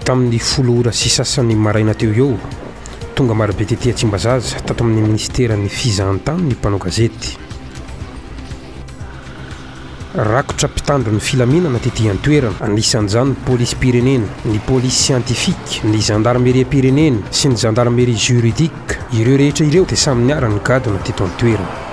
Tamin'ny folo ora sy sasany maraina teo eo, tonga marobe tety à Tsimbazaza, tato amin'ny Minisiteran'ny Fizahantany ny mpanao gazety. Rakotra mpitandro ny filaminana tety an-toerana, anisan'izany ny Polisim-pirenena, ny Police Scientifique, ny Zandarimeriam-pirenena sy ny Zandarmerie Juridique. Ireo rehetra ireo dia samy niara-nigadona teto an-toerana.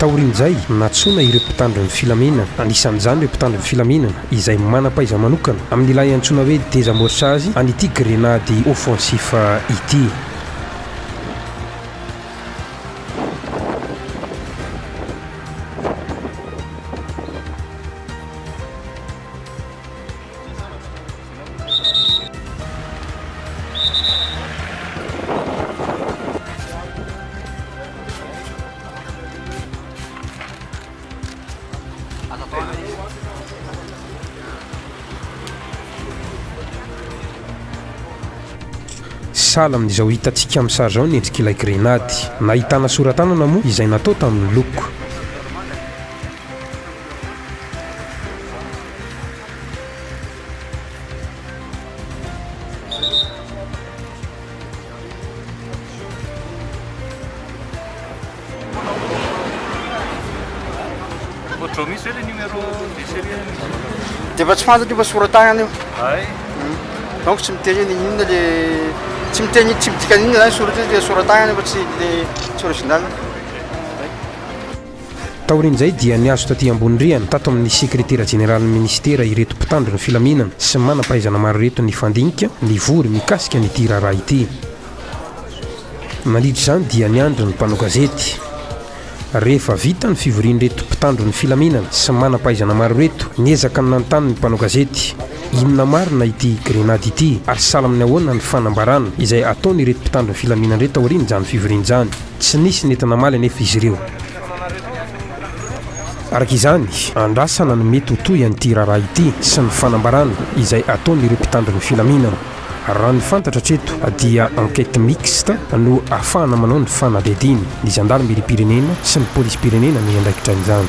Taorian'izay, nantsoina ireo mpitandro ny filaminana, anisan'izany ireo mpitandro ny filaminana izay manam-pahaiza manokana amin'ilay antsoina hoe désamorçage an'ity grenady offensif ity. Sahala amin'izao hitantsika amin'ny sary izao ny endrik'ilay grenady. Nahitana sora-tanana moa izay natao tamin'ny loko. dia efa tsy fantatro efa soratagnana io donc tsy miteny ny inona le tsy miteny tsy midika ny inona zany soratra le soratagnana efa tsy le tsy original Taorian'izay dia nihazo taty ambony rihana tato amin'ny sekretera jeneralin'ny minisitera ireto mpitandro ny filaminana sy manam-pahaizana maro ireto nifandinika nivory mikasika an'ity raharaha ity. Nandritra izany dia niandry ny mpanao gazety. Rehefa vita ny fivorian'ireto mpitandro ny filaminana sy manam-pahaizana maro ireto, niezaka ny nanontany ny mpanao gazety, inona marina ity grenady ity ary sahala amin'ny ahoana ny fanambarana izay ataon'ireto mpitandro ny filaminana ireto aorian'izany fivoriana izany. Tsy nisy nety namaly anefa izy ireo. Araka izany, andrasana ny mety ho tohy an'ity raharaha ity sy ny fanambarana izay ataon'ireo mpitandro ny filaminana. Raha ny fantatra hatreto dia enquête mixte no ahafahana manao ny fanadihadiana. Ny zandarimeriam-pirenena sy ny polisim-pirenena no hiandraikitra an'izany.